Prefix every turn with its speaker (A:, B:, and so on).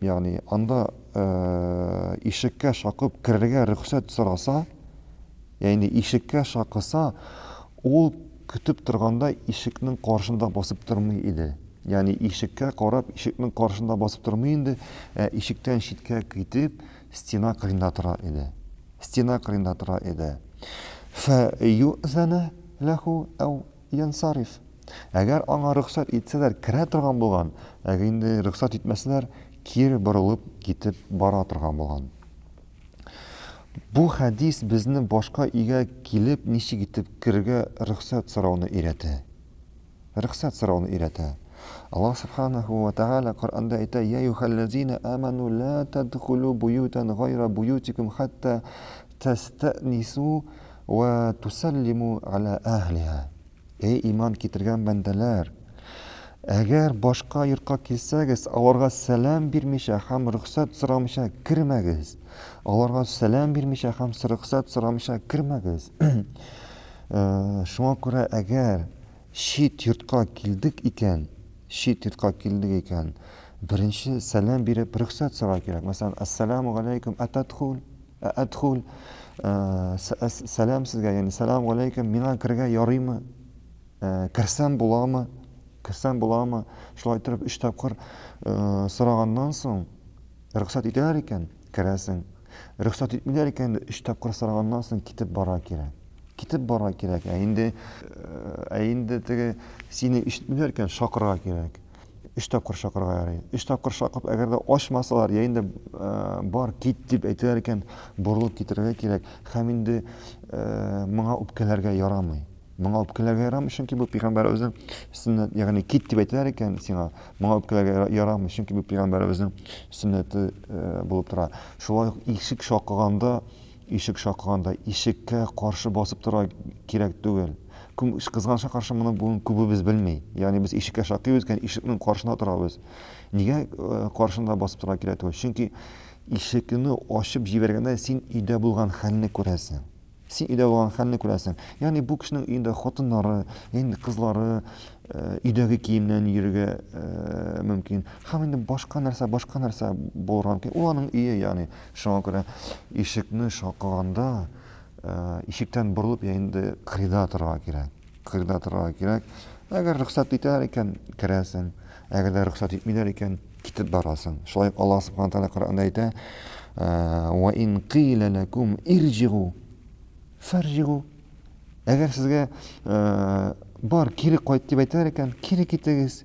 A: Ягъни, анда ишеккә шакып керергә рөхсәт сораса, ягъни ишеккә шакыса, ул көтеп торганда ишекнең каршында басып тормый иде. Ягъни ишеккә карап, ишекнең каршында басып тормый инде, ә ишектән читкә китеп, стена кырында тора иде. Стена кырында тора иде. Фә юзәнә ләһү әү Янсариф. Әгәр аңа рөхсәт итсәләр, керә торган булган, әгәр инде рөхсәт итмәсәләр, кире борылып китеп бара торган булган. Бу хәдис безне башка өйгә килеп ничек итеп керергә рөхсәт сорауны өйрәтә. Рөхсәт сорауны өйрәтә. Аллаһ Субханаһу ва Тәгалә Коръәндә әйтә, Йә юхәлләзина аману ла тадхулу буютан гайра буютикум хәтта тәстәнису Вә тусәллиму галә әһлиһа. Эй иман китергән бәндәләр! Әгәр башка йортка килсәгез, аларга сәлам бирмичә һәм рөхсәт сорамыйча кермәгез. Аларга сәлам бирмичә һәм рөхсәт сорамыйча кермәгез. Шуңа күрә әгәр чит йортка килдек икән, чит йортка килдек икән, беренче сәлам биреп рөхсәт сорау кирәк. Мәсәлән, Ассаламу галәйкүм атәдхул. Әәдхул, сәлам сезгә, яни сәлам галәйкем, миңа керергә ярыймы? Керсәм буламы? Керсәм буламы? Шулай итеп өч тапкыр сораганнан соң, рөхсәт итәләр икән, керәсең. Рөхсәт итмиләр икән, өч тапкыр сораганнан соң китеп бара кирәк. Китеп бара кирәк. Ә инде ә инде теге сине ишетмиләр икән, шакырга кирәк. өч тапкыр чакырырга ярый. Өч тапкыр чакып, әгәр дә ачмасалар, я инде э, бар, кит дип әйтәләр икән, борылып китерергә кирәк. Һәм инде э, моңа үпкәләргә ярамый. Моңа үпкәләргә ярамый, чөнки бу пәйгамбәребезнең сөннәт, ягъни кит дип әйтәләр икән сиңа, моңа үпкәләргә ярамый, чөнки бу пәйгамбәребезнең сөннәте э, булып тора. Шулай ук ишек шакыганда Ишек шакыганда ишеккә каршы басып тора кирәк түгел. Күм, кызганычка каршы, моны бүген күбебез белми. Ягъни без ишеккә шакыйбыз икән, ишекнең каршында торабыз. Нигә каршында басып тора кирәк түгел? Чөнки ишекне ачып җибәргәндә син өйдә булган хәлне күрәсең. Син өйдә булган хәлне күрәсең. Ягъни бу кешенең өендә хатыннары, инде кызлары, өйдәге киемнән йөрергә мөмкин. Һәм инде башка нәрсә, башка нәрсә булырга мөмкин. Ул аның өе, ягъни Шуңа күрә ишекне шакыганда, ишектән борылып я инде кырыйда торырга кирәк. Кырыйда торырга кирәк. Әгәр рөхсәт итәләр икән, керәсең. Әгәр дә рөхсәт итмиләр икән, китеп барасың. Шулай ук Аллаһ Субхана Тәгалә Коръәндә әйтә: "Ва ин кыйла лакум ирҗигу фарҗигу". Әгәр сезгә бар, кире кайт дип әйтәләр икән, кире китегез.